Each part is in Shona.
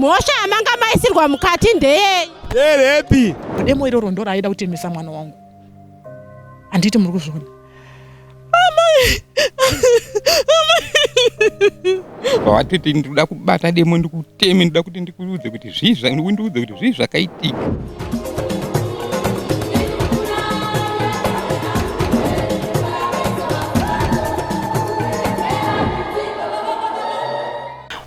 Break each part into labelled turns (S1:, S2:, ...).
S1: Mhosva yamanga maisirwa mukati ndeyei? Nderepi?
S2: Demo iroro ndoro
S3: aida kutemesa mwana wangu. Handiti muri kuzviona? Amai! Amai!
S4: Vawatoti ndikuda kubata demo ndikuteme ndikuda kuti ndikuudze kuti zvii zvandiudze kuti zvii zvakaitika.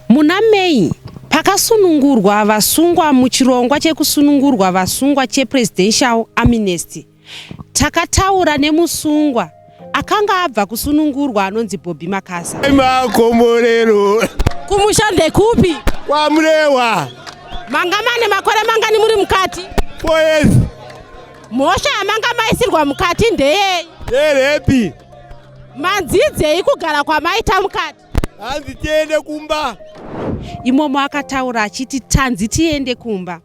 S1: Muna May pakasunungurwa vasungwa muchirongwa chekusunungurwa vasungwa chePresidential Amnesty, takataura nemusungwa akanga abva kusunungurwa anonzi Bobby Makasa. Makomborero.
S2: Kumusha
S1: ndekupi? KwaMurehwa.
S2: Manga mane
S1: makore mangani muri mukati? Four years. Mhosva yamanga maisirwa mukati ndeyei? Yerepi. Manzidzei kugara kwamaita mukati? hanzi tiende
S2: kumba imomo
S1: akataura achiti tanzi tiende kumba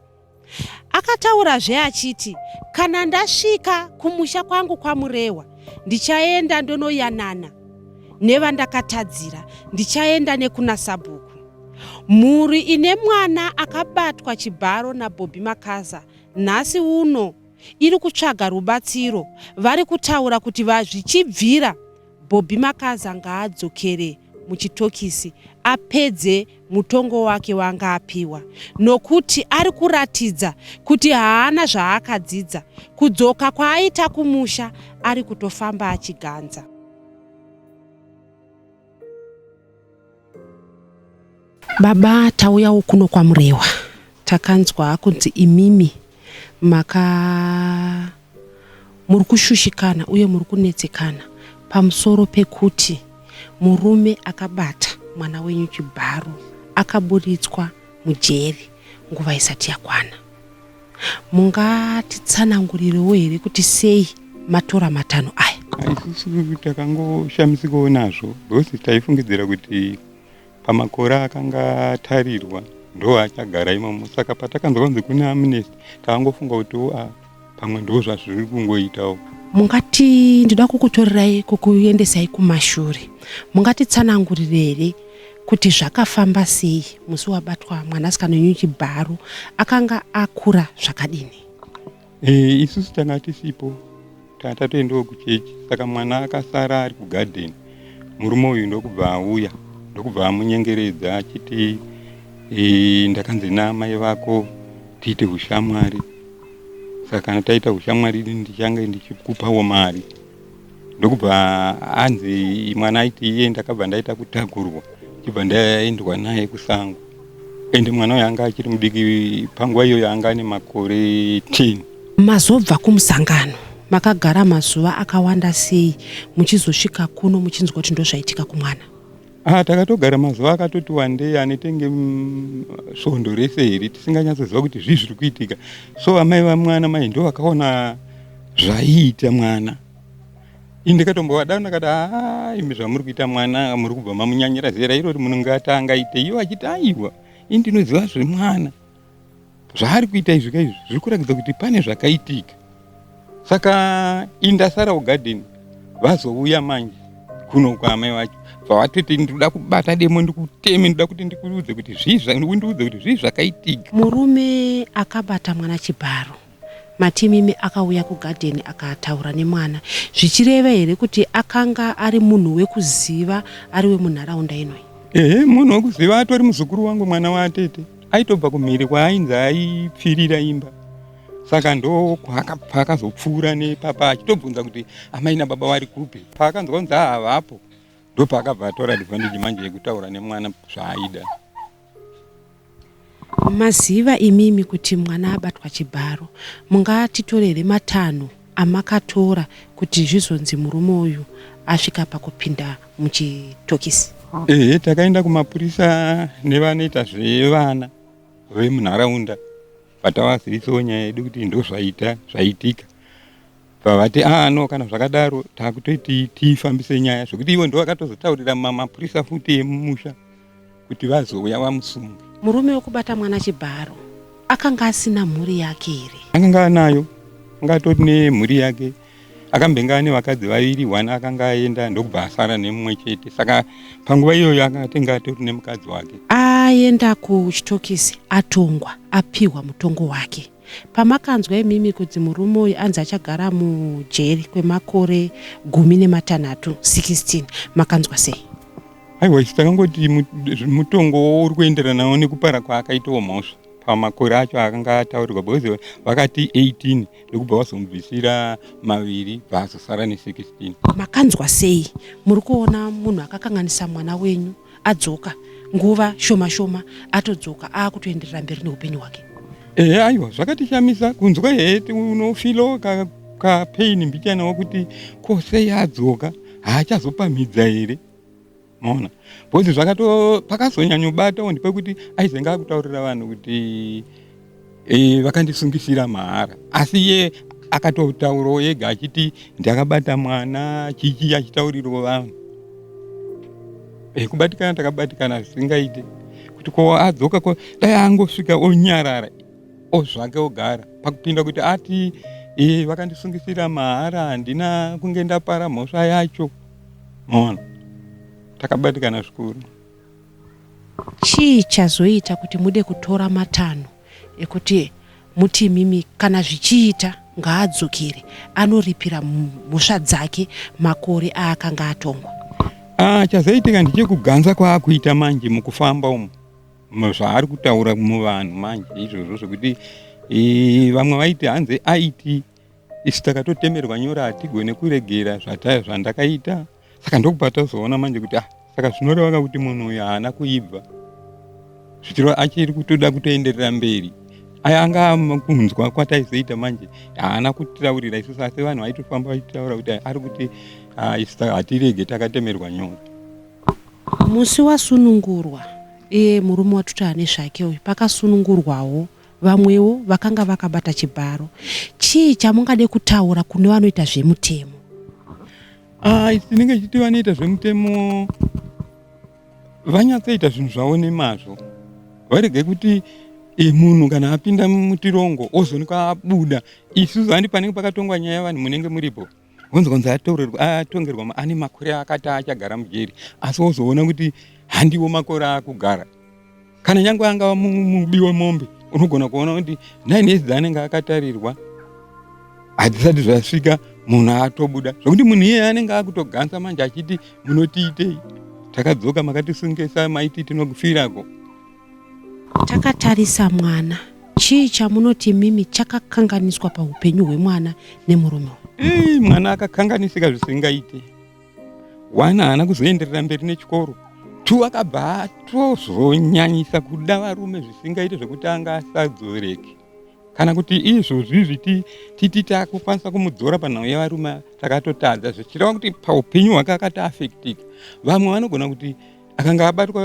S1: akataurazve achiti kana ndasvika kumusha kwangu kwamurehwa ndichaenda ndonoyanana nevandakatadzira ndichaenda nekuna sabhuku mhuri ine mwana akabatwa chibharo nabhobhi makaza nhasi uno iri kutsvaga rubatsiro vari kutaura kuti vazvichibvira Bobby Makaza ngaadzokere muchitokisi apedze mutongo wake waanga apiwa nokuti ari kuratidza kuti haana zvaakadzidza kudzoka kwaaita kumusha ari kutofamba achiganza. Baba tauyawo kuno kwaMurewa. Takanzwa kunzi imimi maka muri kushushikana uye muri kunetsekana pamusoro pekuti murume akabata mwana wenyu chibharo akaburitswa mujeri nguva isati yakwana. mungatitsanangurirewo here kuti sei matora matanho aya haisisi
S4: takangoshamisikawo nazvo because taifungidzira kuti pamakore akanga atarirwa ndo achagara imomo saka patakanzwa kunzi kune amnesty takangofunga kuti wo ah, pamwe ndo zvazviri kungoitawo mungati
S1: ndida kukutorerai kukuendesai kumashure mungatitsanangurire here kuti zvakafamba sei musi wabatwa mwanasikana wenyu chibharo akanga akura zvakadini e,
S4: isusu tanga tisipo tanga tatoendawo kuchechi saka mwana akasara ari kugadheni murume uyu ndokubva auya ndokubva amunyengeredza achiti e, ndakanzi naamai vako tiite ushamwari saka kana taita ushamwari ndichange ndichikupawo mari ndokubva anzi mwana aiti iye ndakabva ndaita kutakurwa chibva ndaendwa naye kusango ende mwana uyo anga achiri mudiki panguva iyoyo anga ane makore 10 mazobva
S1: kumusangano makagara mazuva akawanda sei muchizosvika kuno muchinzwa kuti ndozvaitika kumwana Ah, takatogara
S4: mazuva akatoti wandei anetenge mm, svondo rese here tisinganyatsoziva kuti zvii zviri kuitika so amai vamwana mai ndo vakaona zvaiita mwana ini ndikatombovadao ndakati haa imi zvamuri kuita mwana muri kubva mamunyanyira zera irori munenge atangaite iyo achiti aiwa ini ndinoziva zvemwana zvaari kuita izvi ka izvi zviri kuratidza kuti pane zvakaitika saka indasara ugadeni vazouya manje kuno kwaamai vacho vavatoti ndikuda kubata demo ndikuteme ndikuda kuti ndikuudze kuti zviizvandiudze kuti zvii zvakaitika murume
S1: akabata mwana chibharo Matimimi akauya kugadheni akataura nemwana zvichireva here kuti akanga ari munhu wekuziva ari wemunharaunda inoi? Ehe, munhu wekuziva atori
S4: muzukuru wangu mwana waatete. Aitobva kumhiri kwaainzi aipfirira imba saka ndo paakazopfuura nepapa achitobvunza kuti amai nababa vari kupi paakanzwa kunzi havapo ndopaakabva atora advantage manje yekutaura nemwana zvaaida
S1: Maziva imimi kuti mwana abatwa chibharo mungatitorere matanho amakatora kuti zvizonzi murume uyu asvika pakupinda muchitokisi. Ehe takaenda
S4: kumapurisa nevanoita zvevana vemunharaunda but tawazivisa nyaya yedu kuti ndozvaita zvaitika. Pavati ah no kana zvakadaro takutoti tifambise nyaya zvekuti ivo ndovakatozotaurira mapurisa futi emumusha kuti vazouya vamusunge. Murume wekubata
S1: mwana chibharo akanga asina mhuri yake here? Akanga anayo,
S4: anga atori nemhuri yake. Akambenge ane vakadzi vaviri, one akanga aenda ndokubva asara nemumwe chete. Saka panguva iyoyo akanga atenge atori nemukadzi wake. Aenda
S1: kuchitokisi atongwa apihwa mutongo wake. Pamakanzwa imimi kudzi murume uyu anzi achagara mujeri kwemakore gumi nematanhatu, 16, makanzwa sei? Aiwa isu
S4: takangoti mutongo uri kuenderanawo nekupara kwaakaitawo mhosva pamakore acho akanga ataurirwa because vakati 18 ndokubva vazomubvisira maviri bva azosara ne 16. Makanzwa sei?
S1: Muri kuona munhu akakanganisa mwana wenyu adzoka nguva shoma shoma atodzoka aakutoenderera mberi neupenyu hwake ehe aiwa
S4: zvakatishamisa kunzwa hee unofilo kapain ka mbichana wakuti ko sei adzoka haachazopamhidza here maona bcause zvakato pakazonyanyobatawo ndipekuti aizenge akutaurira vanhu kuti Eh, vakandisungisira mahara asi ye akatotaurawo yega achiti ndakabata mwana chichi achitaurirwa vanhu eh, kubatikana takabatikana zvisingaite kuti ko adzoka ko dai angosvika onyarara ozvake ogara pakupinda kuti ati eh, vakandisungisira mahara handina kunge ndapara mhosva yacho mona takabatikana zvikuru
S1: Chii chazoita kuti mude kutora matanho ekuti muti imimi kana zvichiita ngaadzokere anoripira mhosva dzake makore aakanga atongwa? Ah, chazoitika
S4: ndichekuganza kwaakuita manje mukufamba umu zvaari kutaura muvanhu manje izvozvo zvekuti eh, vamwe vaiti hanzi aiti isu takatotemerwa nyora hatigone kuregera zvandakaita saka ndokubva tozoona manje kuti ah saka zvinoreva ka kuti munhu uyu haana kuibva zvichiro achiri kutoda kutoenderera mberi aya anga kunzwa kwataizoita manje haana kutitaurira isusu asi vanhu vaitofamba vachitaura kuti ari kuti ah, isu ta- hatirege takatemerwa nyora
S1: musi wasunungurwa iye murume watuti ane zvake uyu pakasunungurwawo vamwewo vakanga vakabata chibharo chii chamungade kutaura kune vanoita zvemutemo Ah, tinenge
S4: tichiti vanoita zvemutemo vanyatsoita zvinhu zvavo nemazvo varege kuti e, munhu kana apinda mutirongo ozonika abuda isu zandi panenge pakatongwa nyaya yavanhu munenge muripo vonzi konzi atongerwa ane makore akati achagara mujeri asi wozoona kuti handiwo makore akugara kana nyangwe angava mubi wemombe unogona kuona kuti nine years dzaanenge akatarirwa hadzisati zvasvika munhu atobuda zvokuti munhu iyeye anenge akutoganza manje achiti munotiitei takadzoka makatisungesa maiti tinokufirako takatarisa
S1: mwana chii chamunoti mimi chakakanganiswa paupenyu hwemwana nemurume uyu mwana
S4: akakanganisika zvisingaite one haana kuzoenderera mberi nechikoro two akabva atozonyanyisa kuda varume zvisingaite zvekuti anga asadzoreke kana kuti izvozvi zviti titi takukwanisa kumudzora panhau yevarume takatotadza zvichireva kuti paupenyu hwake akati afektika vamwe vanogona kuti akanga abatwa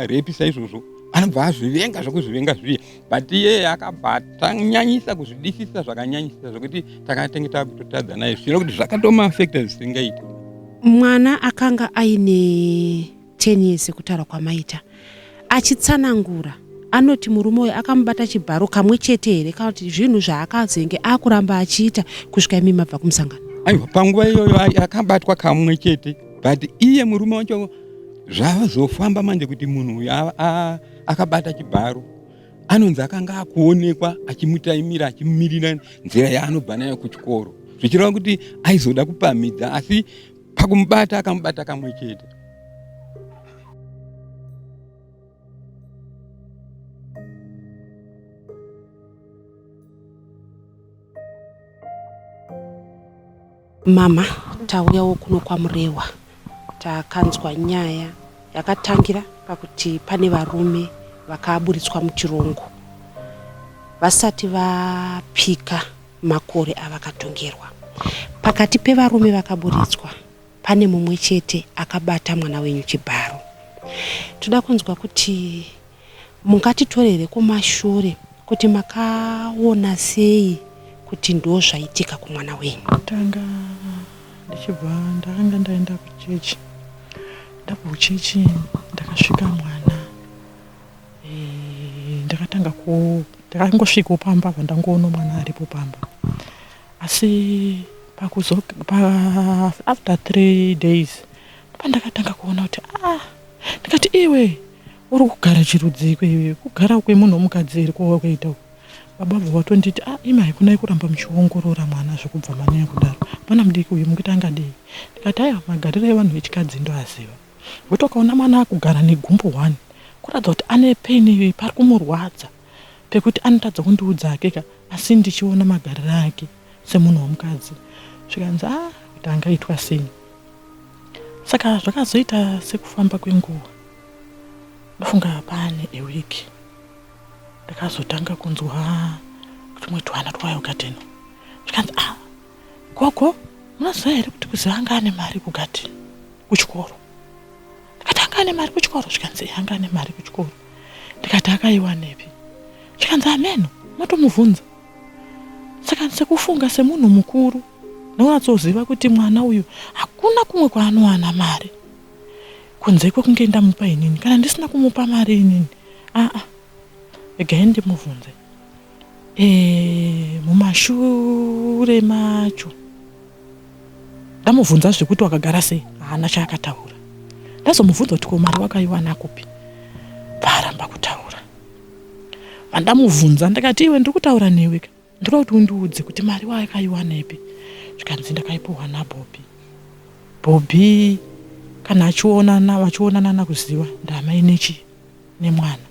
S4: repi saizvozvo anobva azvivenga zvekuzvivenga zviya but iyeye akabva atanyanyisa kuzvidisisa zvakanyanyisa zvekuti takatenge takutotadza naye zvino kuti zvakatomaafekta zvisingaiti mwana
S1: akanga aine 10 years sekutaura kwamaita achitsanangura anoti murume uyu akamubata chibharo kamwe chete here kana kuti zvinhu zvaakazenge akuramba achiita kusvika imi mabva kumusangano aiwa panguva iyoyo
S4: akabatwa kamwe chete but iye murume wacho zvazofamba manje kuti munhu uyu akabata chibharo anonzi akanga akuonekwa achimutaimira achimirira nzira yaanobva nayo kuchikoro zvichireva kuti aizoda kupamhidza asi pakumubata akamubata kamwe chete
S1: Mama tauyawo kuno kwaMurehwa takanzwa nyaya yakatangira pakuti pane varume vakaburitswa muchirongo vasati vapika makore avakatongerwa. Pakati pevarume vakaburitswa pane mumwe chete akabata mwana wenyu chibharo. Toda kunzwa kuti Mungatitorere kumashure kuti makaona sei kuti ndozvaitika kumwana wenyu. Tanga
S3: ndichibva ndakanga ndaenda kuchechi ndabva kuchechi ndakasvika mwana eh, ndakatanga ku ndakangosvikawo pamba apa ndangoona mwana aripo pamba asi pakuzo pa, after three days pandakatanga kuona kuti ah ndikati iwe Uri kugara chirudziiko iwe? Kugara kwemunhu womukadzi here kwawakaita uku? Baba vabva vatonditi, ah imai kunai kuramba muchiongorora mwana zvekubva manyanya kudaro. Mwana mudiki uyu mukuti angadei? Ndikati, haiwa magariro evanhu vechikadzi ndoaziva. Wekuti ukaona mwana akugara negumbo one kuratidza kuti ane pain iyoyi pari kumurwadza pekuti anotadza kundiudza hake ka asi ndichiona magariro ake. semunhu wemukadzi zvikanzi a ah, kuti angaitwa sei saka zvakazoita sekufamba kwenguva ndofunga pane eweek ndakazotanga kunzwa tumwe twana twayo gadheni zvikanzi a ah, gogo munoziva here kuti kuziva anga ane mari kugadheni kuchikoro ndikati anga ane mari kuchikoro zvikanzi anga ane mari kuchikoro ndikati akaiwanepi zvikanzi ameno ah, matomubvunza saka ndise kufunga semunhu mukuru ndonatsoziva kuti mwana uyu hakuna kumwe kwaanowana mari kunze kwekunge ndamupa inini kana ndisina kumupa mari inini aa regai ndimubvunze e, mumashure macho ndamubvunza zvekuti wakagara sei haana chaakataura ndazomubvunza kuti ko mari wakaiwana kupi paaramba kutaura Vandamubvunza ndakati iwe ndiri kutaura newe ka ndoda kuti undiudze kuti mari wakaiwanepi zvikanzi ndakaipuhwa nabhobhi bhobhi kana achionana vachionanana kuziva ndamai nechi nemwana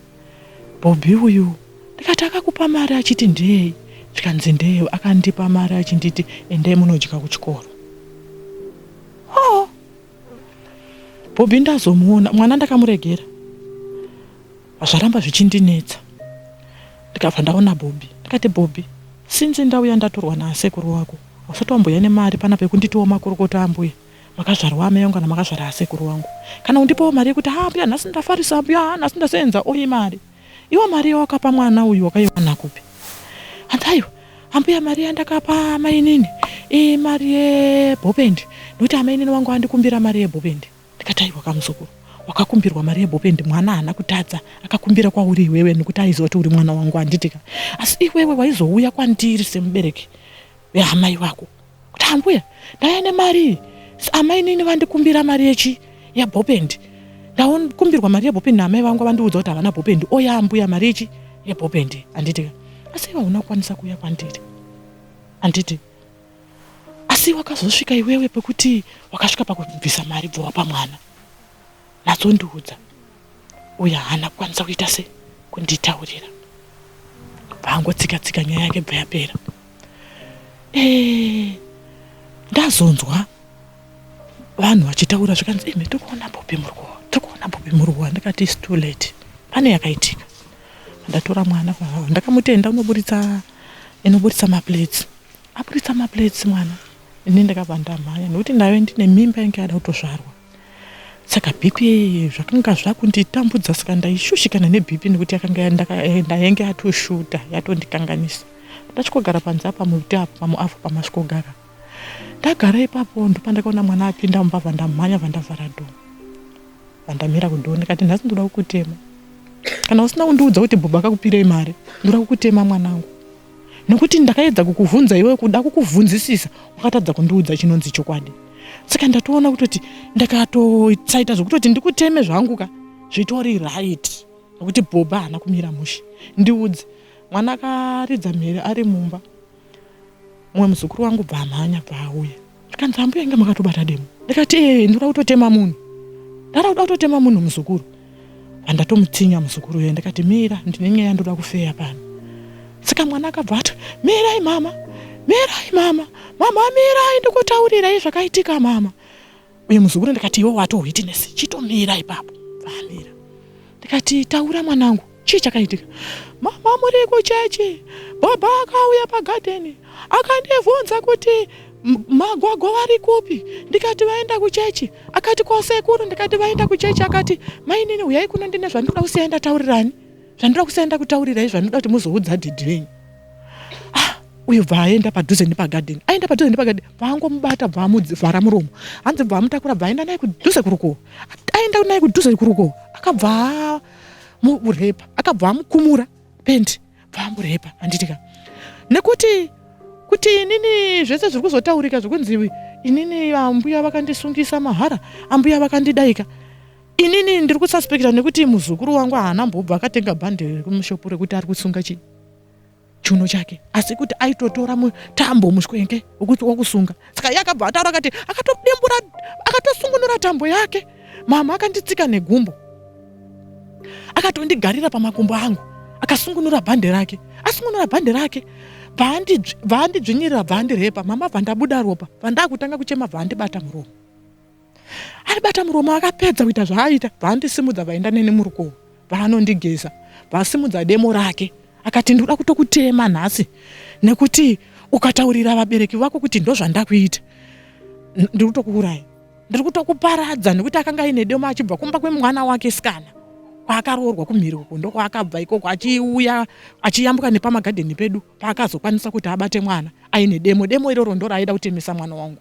S3: bhobhi uyu ndikati akakupa mari achiti ndeyei zvikanzi ndeye akandipa mari achinditi endai munodya kuchikoro oh. bhobhi ndazomuona mwana ndakamuregera Zvaramba zvichindinetsa ndikabva ndaona Bobby ndikati Bobby since ndauya ndatorwa naasekuru wako hausati wambouya nemari pana pekunditiwo makorokoto ambuya makazvarwa amai vangu kana makazvara asekuru wangu kana undipawo mari yekuti haa mbuya nhasi ndafarisa ambuya haa nhasi ndaseenza oyi mari iwo mari yawakapa mwana uyu wakaiwana kupi hanzi aiwa ambuya mari yandakapa mainini imari yebopendi nokuti amainini wangu andikumbira mari yebopendi ndikati aiwa kamuzukuru wakakumbirwa mari yebopendi mwana haana kutadza akakumbira kwauri iwewe nekuti aiziva kuti uri mwana wangu handitika asi iwewe waizouya kwandiri semubereki veamai vako kuti ambuya ndaya nemari amai nini vandikumbira mari yechi yebopendi ndakumbirwa mari yebopendi naamai vangu vandiudza kuti havana bopendi oya ambuya mari yechi yebopendi handitika asi iwe hauna kukwanisa kuuya kwandiri handiti asi wakazosvika iwewe pekuti wakasvika pakubvisa mari bvowa pamwana natsondiudza uyo haana kukwanisa kuita se kunditaurira bvaangotsika tsika nyaya yake bva yapera eh, ndazonzwa vanhu vachitaura zvikanzi imi tikuona bobi muruwa tikuona bobi muruwa ndikati is too late pane yakaitika ndatora mwana kwaavo ndakamutenda unoburitsa inoburitsa maplates aburitsa maplates mwana ini ndakabva ndamhanya nekuti ndave ndine mimba yange yada kutozvarwa saka bhipi zvakanga zvakunditambudza saka ndaishushikana nebhipi nekuti yakanga ndayange yatoshuta yatondikanganisa ndachikogara panze apa muti apo pamuavho pamasvikogara ndagara ipapo ndopandakaona mwana apinda mumba vandamhanya vandavhara do vandamira kudo ndikati nhasi ndoda kukutema kana usina kundiudza kuti bhuba akakupirei mari ndoda kukutema mwanangu Nokuti ndakaedza kukuvhunza iwe kuda kukuvhunzisisa wakatadza kundiudza chinonzi chokwadi. Saka ndatoona kutoti ndakatosaita zvokutoti ndikuteme zvangu ka zvitori right nokuti bhoba haana kumira mushe. Ndiudze mwana akaridza mhere ari mumba mumwe muzukuru wangu bva amhanya bva auya. akanzi ambuya inge makatobata demo ndikati ee ndikuda kutotema munhu ndara kuda kutotema munhu muzukuru andatomutsinya muzukuru uye ndikati mira ndine nyaya yandoda kufeya pano saka mwana akabva ati mirai mama mirai mama mama mirai ndikutaurirai zvakaitika mama uye muzukuru ndikati iwe wato witness chitomira ipapo vamira ndikati taura mwanangu chii chakaitika mama muri kuchechi baba akauya pagadheni akandivhunza kuti magwagwa vari kupi ndikati vaenda kuchechi akati kwasekuru ndikati vaenda kuchechi akati mainini uyai kuno ndine zvandoda kusiya ndataurirani zvandoda kusiya ndakutaurirai zvandoda kuti muzoudza dhidhi venyu ah, uyu bva aenda padhuze nepagadheni aenda padhuze nepagadheni bvaangomubata bvaamuvhara muromo hanzi bvaamutakura bvaaenda naye kudhuze kurukuwo aenda naye kudhuze kurukuwo akabva murepa akabva amukumura pendi bva amurepa handitika nekuti kuti inini zvese zviri kuzotaurika zvekunzi inini ambuya vakandisungisa mahara ambuya vakandidaika inini ndiri kususpekta nekuti muzukuru wangu haana mbobva akatenga bhande rekumushopu rekuti ari kusunga chii chiuno chake asi kuti aitotora mutambo mushwenke wekuti wakusunga saka iye akabva ataura akati akatodembura akatosungunura tambo yake mama akanditsika negumbo akatondigarira pamakumbo angu akasungunura bhande rake asungunura bhande rake bvaandidzvinyirira bvaandirepa mama bvandabuda ropa bvandakutanga kuchema bvaandibata muromo aibata muromo akapedza kuita zvaaita vaandisimudza vaenda neni murukovo vaanondigeza vasimudza demo rake akati ndikuda kutokutema nhasi nekuti ukataurira vabereki vako kuti ndozvandakuita ndiri kutokuuraya ndiri kutokuparadza nekuti akanga aine demo achibva kumba kwemwana wake sikana kwaakaroorwa kumhiri uko ndokwaakabva ikoko achiuya achiyambuka nepamagadheni pedu paakazokwanisa kuti abate mwana aine demo demo iroro ndoraaida kutemesa mwana wangu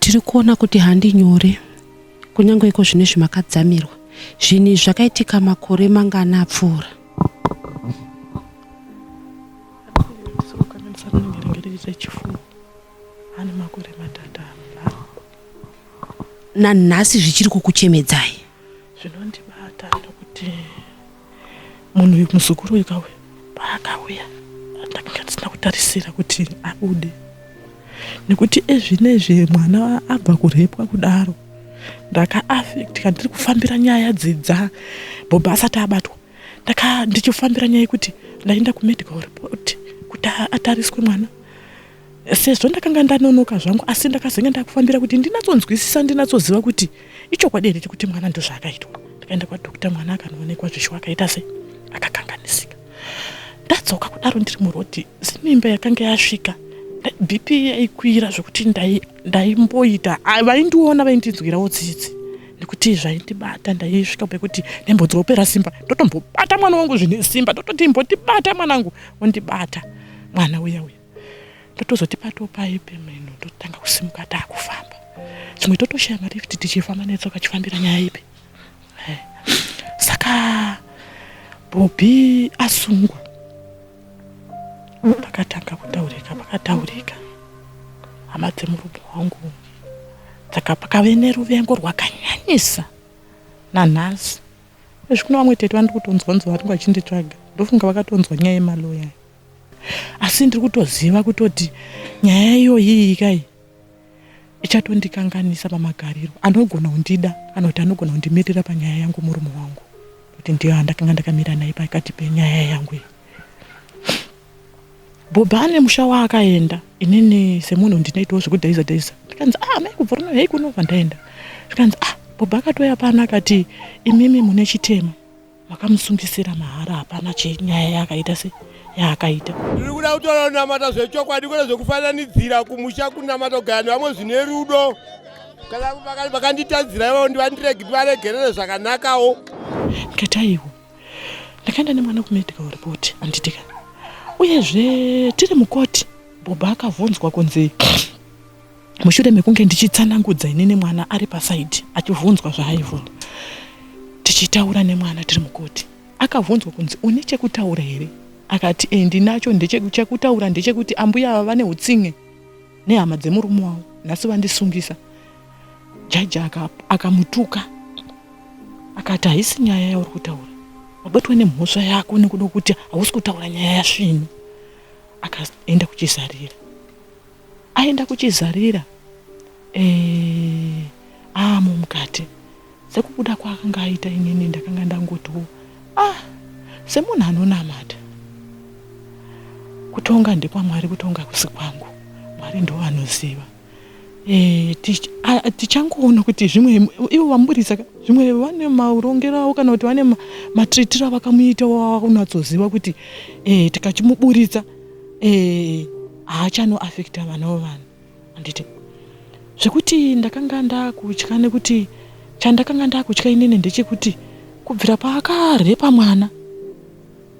S1: tiri kuona kuti handi nyore kunyange iko zvine zvimakadzamirwa zvinhu izvi zvakaitika makore mangana apfuura nanhasi zvichiri kukuchemedzai zvinondibata
S3: ndokuti Munhu uyu muzukuru uyu kauya paakauya ndakanga ndisina kutarisira kuti abude nekuti ezvinezve mwana abva kurepwa kudaro ndakaafectika ndiri kufambira nyaya dzidza bhobha asati abatwa ndaka ndichifambira nyaya yekuti ndaenda kumedical report kuti atariswe mwana Sezvo ndakanga ndanonoka zvangu asi ndakazenge ndakufambira kuti ndinatsonzwisisa ndinatsoziva kuti ichokwadi here chekuti mwana ndozvaakaitwa. Ndakaenda kwadokita mwana akanoonekwa zvisho akaita se akakanganisika. Ndadzoka kudaro ndiri murodhi semimba yakanga yasvika BP yaikwira zvekuti ndaimboita ah, vaindiona vaindinzwirawo tsitsi nekuti zvaindibata ndaisvika pekuti nembodzopera simba ndotombobata mwana wangu zvine simba ndototi imbotibata mwanangu ondibata mwana uya uya ndotozoti pato paye pemeno ndototanga kusimuka taakufamba chimwe totoshaya mari yekuti tichifamba netsoka chifambira nyaya ipi eh, saka bhobhi asungwa pakatanga kutaurika pakataurika hama dzemurume wangu saka pakave neruvengo rwakanyanyisa nanhasi ezvi kuno vamwe tete vandikutonzwa nzwa vatinga vachinditsvaga ndofunga vakatonzwa nyaya yemaloya asi ndiri kutoziva kutoti nyaya iyoyiyi kai ichatondikanganisa pamagariro anogona kundida kana kuti anogona kundimirira panyaya yangu murume wangu kuti ndiyo andakanga ndakamira naye pakati penyaya yangu iyi bhobha ane musha waakaenda inini semunhu ndinoitawo zvekudhaiza dhaiza ndikanzi ah mai kubva rino hei kunobva ndaenda zvikanzi ah bhobha akatouya pano akati imimi mune chitema vakamusungisira mahara hapana chenyaya yaakaita se yaakaita tiri kuda kutora
S2: unamata zvechokwadi kwete zvekufananidzira kumusha kunamata kugara nevamwe zvine rudo kana vakanditadzira ivavo ndivandiregi ndivaregerere zvakanakawo ndikataiwo
S3: ndakaenda nemwana kumedical report anditika uyezve tiri mukoti bhobha akavhunzwa kunzi mushure mekunge ndichitsanangudza ini nemwana ari pasaidi achivhunzwa zvaaivhunza tichitaura nemwana tiri mukoti akavhunzwa kunzi une chekutaura here akati e ndinacho ndechekutaura ndechekuti ambuya ava vane utsinge nehama dzemurume wavo nhasi vandisungisa jaji akamutuka aka akati haisi nyaya yauri kutaura wabatwa nemhosva yako nekuda kuti hausi kutaura nyaya yasvinu akaenda kuchizarira aenda kuchizarira eh, aamo mukati sekubuda kwaakanga aita inini ndakanga ndangotiwo ah semunhu anonamata kutonga ndekwamwari kutonga kusi kwangu mwari ndo vanoziva e, tichangoona kuti zvimwe ivo vamuburitsa zvimwe vane maurongero avo kana kuti vane matritiro avakamuita wavakunatsoziva kuti e, tikachimuburitsa e, haachanoafekta vana wevanhu handiti zvekuti ndakanga ndakutya nekuti chandakanga ndakutya inini ndechekuti kubvira paakarepa mwana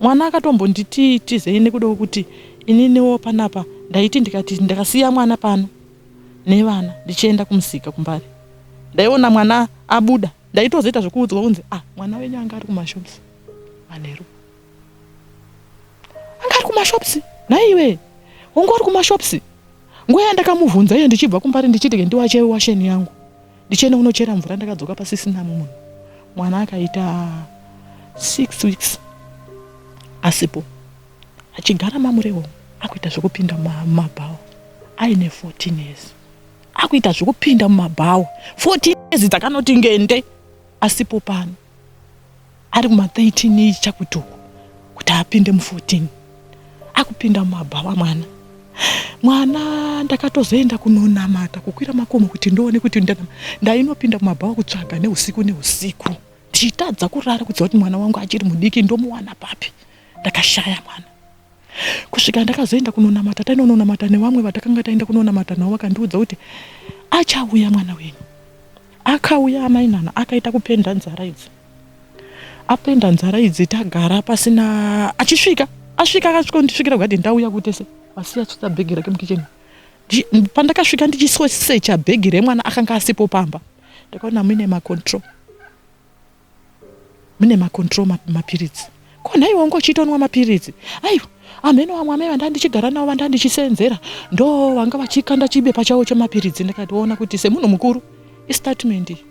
S3: mwana akatombonditi tizei nekudawo kuti ininiwo panapa ndaiti ndikati ndakasiya mwana pano nevana ndichienda kumusika kumbari ndaiona mwana abuda ndaitozoita zvekuudzwa kunzi ah mwana wenyu anga ari kumashops manheru anga ari kumashops nhaiwe wangu wari kumashops nguva yandakamuvhunza iyo ndichibva kumbari ndichiti ke ndiwache washeni yangu ndichienda kunochera mvura ndakadzoka pasisina munhu mwana akaita six weeks asipo achigara mamurewo akuita zvekupinda mumabhawa aine 14 years akuita zvekupinda mumabhawa 14 years dzakanoti ngende asipo pano ari kuma 13 iyi chakuti uku kuti apinde mu 14 akupinda mumabhawa mwana mwana ndakatozoenda kunonamata kukwira makomo kuti ndione kuti ndainopinda mumabhawa kutsvaga neusiku neusiku ndichitadza kurara kuziva kuti mwana wangu achiri mudiki ndomuwana papi ndakashaya mwana kusvika ndakazoenda kunonamata tainononamata nevamwe vatakanga taenda kunonamata navo vakandiudza kuti achauya mwana wenyu akauya amainana akaita kupenda nzara idzi Apenda nzara idzi tagara pasina achisvika asvika akasvika kundisvikira kugadheni ndauya kutese asiya tsvitsa bhegi rake mukicheni pandakasvika ndichisosecha bhegi remwana akanga asipo pamba ndakaona mune macontrol mune macontrol mapiritsi ko nhai wangu uchiitonwa mapiritsi aiwa amheno vamwe amai vanda ndichigara navo vanda ndichiseenzera ndo vanga vachikanda chibepa chavo chemapiritsi ndikationa kuti semunhu mukuru istatement iyi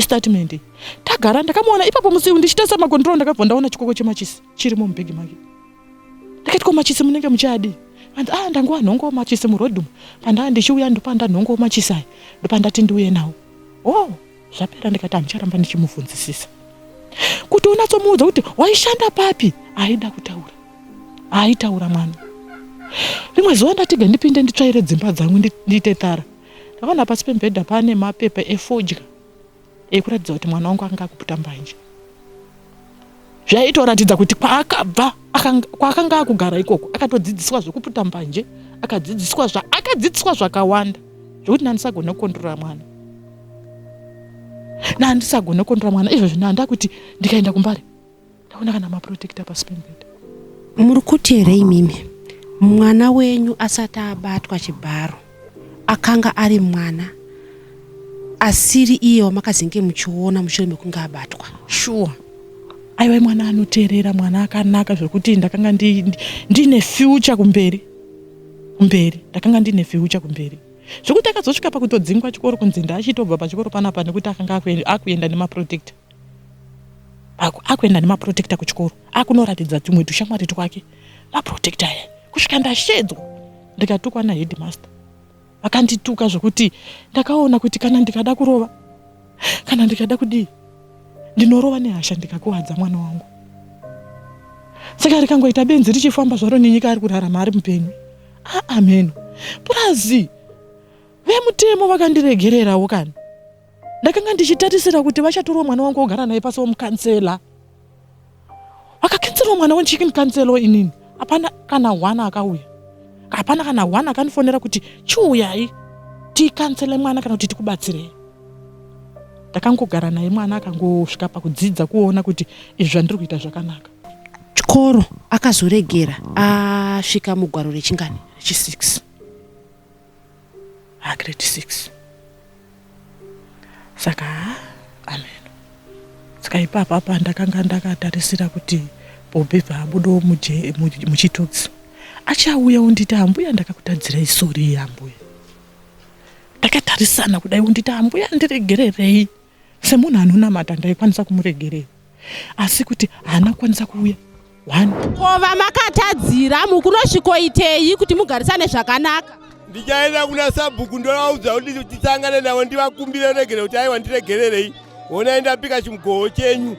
S3: statement tagara ndakamuona ipapo musi ndichitasa makontrol ndakabva ndaona chikoko chemachisi chirimo mubhegi make ndakati ko machisi munenge muchadi anzi ah ndanguva nhongo machisi murodum pandaa ndichiuya ndopanda nhongo machisi aya ndopandati ndiuye nawo o oh, zvapera ndikati handicharamba ndichimubvunzisisa kuti unatsomuudza kuti waishanda papi aida kutaura aitaura mwana rimwe zuva ndatiga ndipinde nditsvaire dzimba dzangu ndiite tara Ndakaona pasi pemubhedha pane mapepa efodya ekuratidza kuti mwana wangu akanga akuputa mbanje zvaitoratidza kuti kwaakabva kwaakanga akugara ikoko akatodzidziswa zvekuputa mbanje akadzidziswa zvaakadzidziswa zvakawanda zvekuti nandisagona kukondrora mwana nandisagona kukondrora mwana izvozvi nanda kuti ndikaenda kumbare ndaona kana maprotector pasi pembeda muri kuti
S1: here imimi mwana wenyu asati abatwa chibharo akanga ari mwana asiri iye wamakazenge muchiona mushure mekunge abatwa shuwa
S3: aiwa mwana anoteerera mwana akanaka zvekuti ndakanga ndiine future kumberi kumberi ndakanga ndiine future kumberi zvekuti akazosvika pakutodzingwa chikoro kunzi ndaachitobva pachikoro panapa nekuti akanga akuenda nemaprotector ako akuenda nemaprotecta kuchikoro akunoratidza tumwe tushamwari twake maprotecta aya kusvika ndashedzwa ndikatukwa naheadmaster vakandituka zvekuti ndakaona kuti kana ndikada kurova kana ndikada kudii ndinorova nehasha ndikakuvadza mwana wangu saka rikangoita benzi richifamba zvaro nenyika ari kurarama ari mupenyu aameno ah, purazi vemutemo vakandiregererawo kani ndakanga ndichitarisira kuti vachatorwa mwana wangu ogara naye pasi womukansela wakakenserwa mwana wenchiki mukansela woinini hapana kana hwana akauya hapana kana hwana akandifonera kuti chiuyai tikansele mwana kana kuti tikubatsirei ndakangogara naye mwana akangosvika pakudzidza kuona kuti izvi zvandiri kuita zvakanaka chikoro
S1: akazoregera asvika mugwaro rechingani rechi6
S3: ha grade six saka ha amen saka ipapapa ndakanga ndakatarisira kuti bobi paabudawo muchitotsi achauya unditi ambuya ndakakutadzirai sori yeambuya ndakatarisana kudai unditi ambuya ndiregererei semunhu anonamata ndaikwanisa kumuregerera asi kuti haana kukwanisa kuuya one ko vamakatadzira
S1: mukunosvikoitei kuti mugarisane zvakanaka ndichaenda kuna
S2: sabhuku ndovaudza kuti tisangane navo ndivakumbire regere kuti aiwa ndiregererei honai ndapika chimugoho chenyu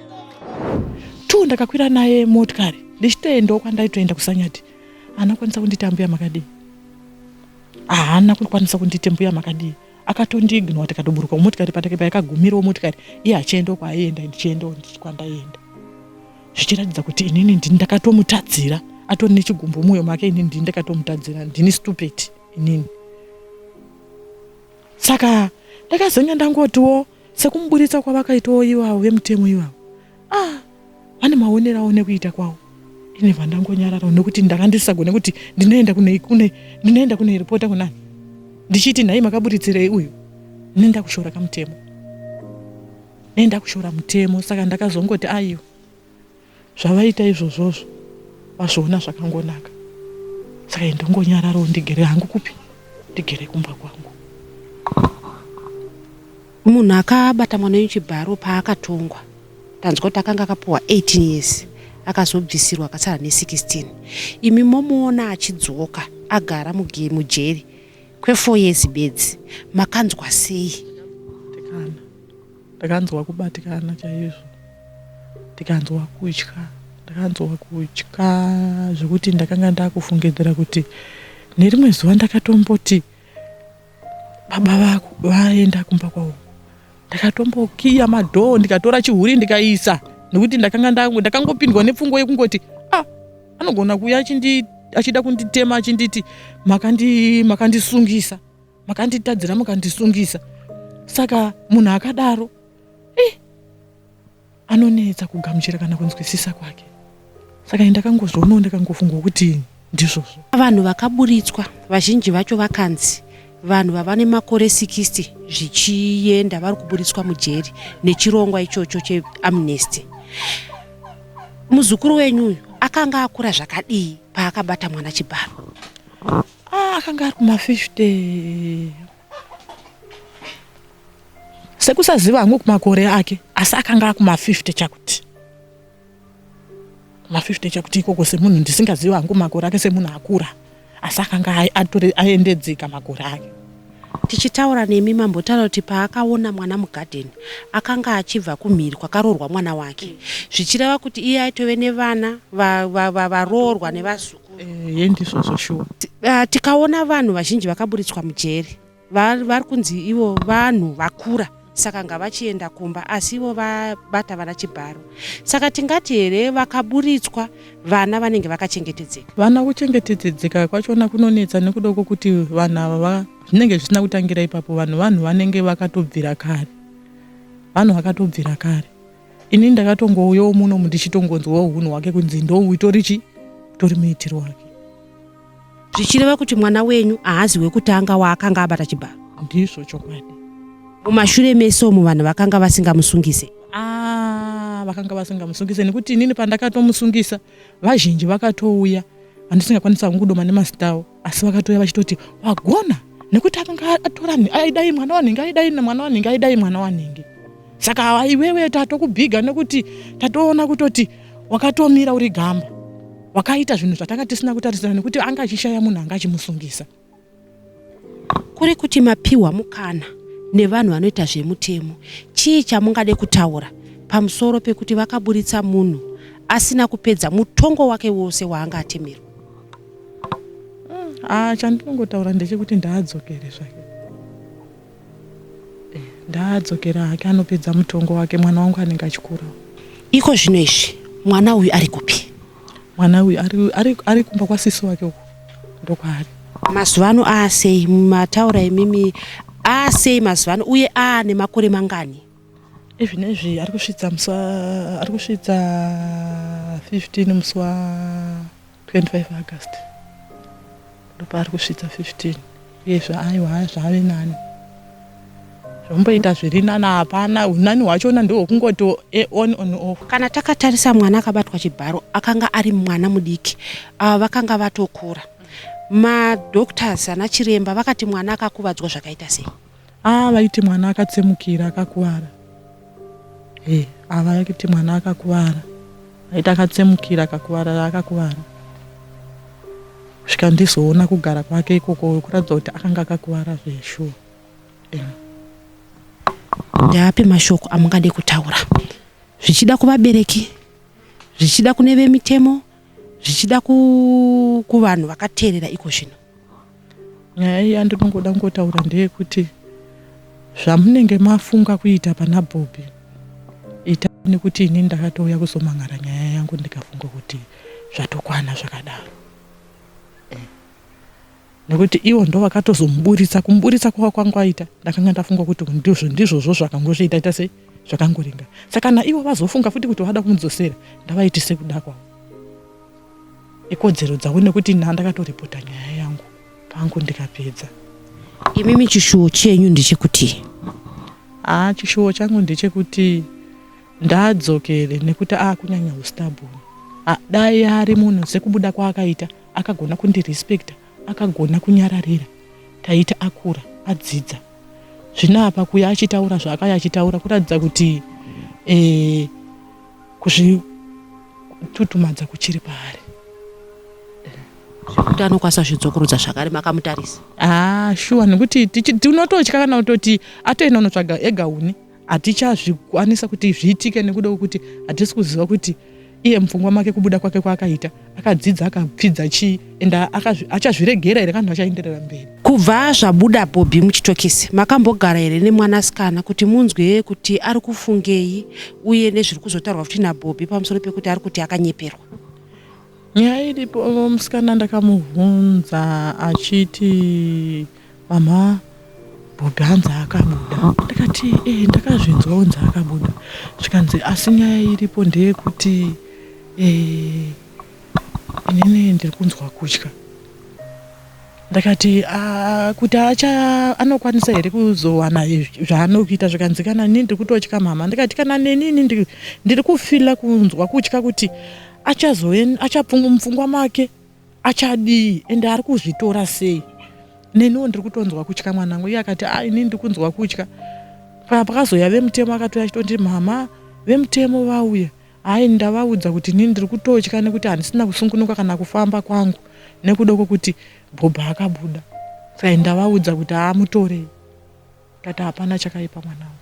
S2: two
S3: ndakakwira naye motikari ndichitoendawo kwandaitoenda kusanyati anokwanisa kundita mbuya makadii haana kukwanisa kundita mbuya makadii akatondiignora tikatoburuka mumotikari patake paikagumirawo motikari iye achienda kwaaienda ndichiendawo kwandaienda zvichiratidza kuti inini ndini ndakatomutadzira atori nechigumbu mumwoyo make inini ndini ndakatomutadzira ndini stupid inini saka ndakazonge ndangotiwo sekumuburitsa kwavakaitawo ivavo vemutemo ivavo ah vane maonero awo nekuita kwawo ini vandangonyararawo nekuti ndanga ndisisagone kuti ndinoenda kune kune ndinoenda kune ripota kunani ndichiti nhai makaburitsirei uyu ini ndakushora kamutemo nei ndakushora mutemo saka ndakazongoti aiwa zvavaita izvozvozvo vazviona zvakangonaka saka ndongonyararawo ndigere hangu kupi ndigere kumba kwangu
S1: Munhu akabata mwana wenyu chibharo paakatongwa tanzwa kuti akanga akapuwa 18 years akazobvisirwa akasara ne16 imi momuona achidzoka agara mujeri kwefour years bedzi makanzwa sei tikana
S3: ndakanzwa kubatikana chaizvo ndikanzwa kutya ndakanzwa kutya zvekuti ndakanga ndakufungidzira kuti nerimwe zuva ndakatomboti baba vako vaenda kumba kwavo ndakatombokiya madhoo ndikatora chihuri ndikaisa nekuti ndakanga ndakangopindwa nepfungwa yekungoti ah anogona kuuya achida kunditema achinditi makandisungisa makanditadzira mukandisungisa saka munhu akadaro anonetsa kugamuchira kana kunzwisisa kwake saka ini ndakangozvionawo ndakangofunga kuti ndizvozvo vanhu vakaburitswa
S1: vazhinji vacho vakanzi vanhu vava nemakore 60 zvichienda vari kuburitswa mujeri nechirongwa ichocho cheamnesty muzukuru wenyu uyu akanga akura zvakadii paakabata mwana chibharo ah,
S3: akanga ari kuma 50 sekusaziva hangu kumakore ake asi akanga akuma 50 chakuti ma 50 chakuti ikoko semunhu ndisingaziva hangu makore ake semunhu akura asi akanga aendedzeka makore ake tichitaura
S1: nemi mambotaura kuti paakaona mwana mugadheni akanga achibva kumhiri kwakaroorwa mwana wake zvichireva kuti iye aitove nevana varoorwa nevazukuru eh, yendizvozvo
S3: shuwa ah, tikaona
S1: vanhu vazhinji vakaburitswa mujeri vari var kunzi ivo vanhu vakura saka ngavachienda kumba asi ivo vabata vana chibharo saka tingati here vakaburitswa vana vanenge vakachengetedzeka vana kuchengetedzeka
S3: kwachona kunonetsa nekuda kwokuti vanhu ava zvinenge zvisina kutangira ipapo vanhu vanhu vanenge vakatobvira kare vanhu vakatobvira kare ini ndakatongouyawo muno ndichitongonzwawo hunhu hwake kunzi ndoutori chi utori muitiro wake
S1: zvichireva kuti mwana wenyu haazi wekutanga waakanga abata chibharo ndizvo chokwadi
S3: mumashure
S1: mese umu vanhu vakanga vasingamusungise ah,
S3: vakanga vasingamusungise nekuti inini pandakatomusungisa vazhinji vakatouya andisingakwanisa kungudoma nemazitawo asi vakatouya vachitoti wagona nekuti akanga atora aidai mwana wanhingi aidai mwana wanhingi aidai mwana wanhingi saka hawa iwewe tatokubhiga nekuti tatoona kutoti wakatomira uri gamba wakaita zvinhu zvatanga tisina kutarisira nekuti anga achishaya munhu anga achimusungisa
S1: kuri kuti mapiwa mukana nevanhu vanoita zvemutemo chii chamungade kutaura pamusoro pekuti vakaburitsa munhu asina kupedza mutongo wake wose waanga atemerwa ah,
S3: chandinongotaura ndechekuti ndaadzokere zvake Ndaadzokera hake anopedza mutongo wake mwana wangu anenge achikurawo. Iko zvino
S1: izvi mwana uyu ari kupi? Mwana uyu ari,
S3: ari, ari kumba kwasisi wake uko ndokwaari. Mazuva ano
S1: aasei mataura imimi aasei mazuva ano uye aane makore mangani? Even ezvi
S3: ari kusvitsa musi wa ari kusvitsa 15 musi wa 25 August ndopaari kusvitsa 15 uye zvaaiwa zvave nani zvomboita zviri nani hapana unani hwachona ndohwekungoti eh, on on off kana takatarisa mwana
S1: akabatwa chibharo akanga ari mwana mudiki ava uh, vakanga vatokura madoctors ana chiremba vakati mwana akakuvadzwa zvakaita sei Haa vaiti mwana
S3: akatsemukira akakuvara e ava vaiti mwana akakuvara vaiti akatsemukira akakuvara akakuvara kusvika ndizoona kugara kwake ikoko kuratidza kuti akanga akakuvara zveshuwa
S1: ndeapi mashoko amungade kutaura zvichida kuvabereki zvichida kune vemitemo zvichida kuvanhu vakateerera iko zvino Nyaya
S3: iya ndinongoda kungotaura ndeyekuti zvamunenge mafunga kuita pana Bobby ita nekuti ini ndakatouya kuzomhan'ara nyaya yangu ndikafunga kuti zvatokwana zvakadaro eh. nekuti ivo ndo vakatozomuburitsa kumuburitsa kwava kwanga aita ndakanga ndafunga kuti ndizvo ndizvozvo zvakangozviita ita sei zvakangoringa saka kana ivo vazofunga futi kuti vada kumudzosera ndavaitise kuda kwavo ikodzero dzavo nekuti nhaa ndakatoripota nyaya yangu pangu ndikapedza imimi
S1: chishuwo chenyu ndechekuti haa
S3: chishuwo changu ndechekuti ndadzokere nekuti akunyanya ustabon dai ari munhu sekubuda kwaakaita akagona kundirespecta akagona kunyararira taita akura adzidza zvino apa kuya achitaura zvaakaya achitaura kuratidza kuti eh, kuzvitutumadza kuchiri paari
S1: zvekuti anokwanisa zvidzokorudza zvakare makamutarisa ah, shuwa
S3: nekuti tinototya kana kutoti atoenda unotsvaga ega uni hatichazvikwanisa kuti zviitike nekuda kwekuti hatisi kuziva kuti iye mupfungwa make kubuda kwake kwaakaita akadzidza akapfidza chii and achazviregera here kanhu achaenderera mberi kubva zvabuda
S1: bobhi muchitokisi makambogara here nemwanasikana kuti munzwe kuti ari kufungei uye nezviri kuzotaurwa futi nabobhi pamusoro pekuti ari kuti akanyeperwa nyaya
S3: iripo musikana ndakamubvunza achiti Mama Bobby hanzi akabuda. Ndakati eh ndakazvinzwa kunzi akabuda. Zvikanzi asi nyaya iripo ndeyekuti eh inini ndiri kunzwa kutya. Ndakati ah, kuti acha anokwanisa here kuzowana zvaanokuita zvikanzi kana nini ndiri kutotya mama. Ndikati kana neni ndiri kufila kunzwa kutya kuti achazove achapfungwa mupfungwa make. achadii ende ari kuzvitora sei neniwo ndiri kutonzwa kutya mwanangu iye akati a ini ndiri kunzwa kutya pakazoya vemutemo akatouya achitondi mhama vemutemo vauya hayi ndavaudza kuti nini ndiri kutotya nekuti handisina kusungunuka kana kufamba kwangu nekuda kwekuti bhobha akabuda sai ndavaudza kuti haa mutorei Tata hapana chakaipa mwanangu.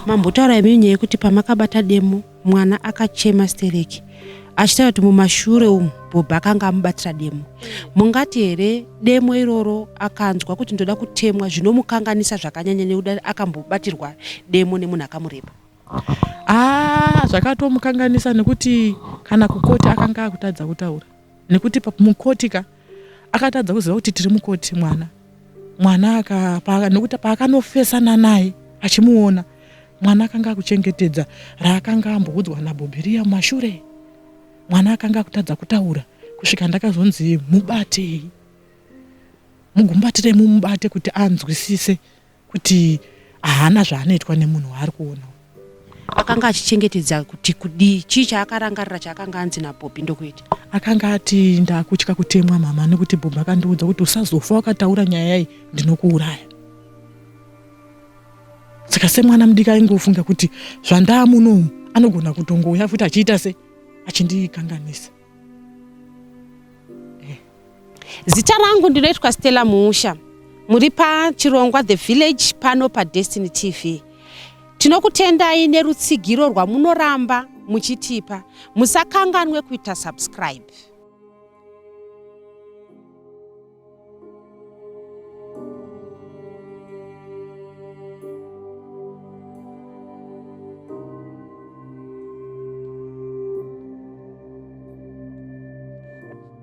S1: Mambotaura imi nyaya yekuti pamakabata demo mwana akachema stereki achitaura kuti mumashure umu bhobha akanga amubatira demo mungati here demo iroro akanzwa kuti ndoda kutemwa zvinomukanganisa zvakanyanya nekuda akambobatirwa demo nemunhu akamureba aa ah,
S3: zvakatomukanganisa nekuti kana kukoti akanga akutadza kutaura nekuti mukoti ka akatadza kuziva kuti tiri mukoti mwana mwana nekuti paakanofesana naye achimuona mwana akanga akuchengetedza raakanga amboudzwa nabhobhiriya mumashure mwana akanga akutadza kutaura kusvika ndakazonzi mubatei mugumbatire mumubate kuti anzwisise kuti haana zvaanoitwa nemunhu waari kuona akanga
S1: achichengetedza kuti kudii chii chaakarangarira chaakanga anzi nabhobhi ndokuita akanga ati
S3: ndakutya kutemwa mama nekuti bhobhi akandiudza kuti usazofa wakataura nyaya yayi ndinokuuraya saka semwana mudiki aingofunga kuti zvandaa munomu anogona kutongouya futi achiita se achindikanganisa
S1: Zita rangu ndinoitwa Stella Muusha. Muri pachirongwa The Village pano paDestiny TV. Tinokutendai nerutsigiro rwamunoramba muchitipa. Musakanganwe kuita subscribe.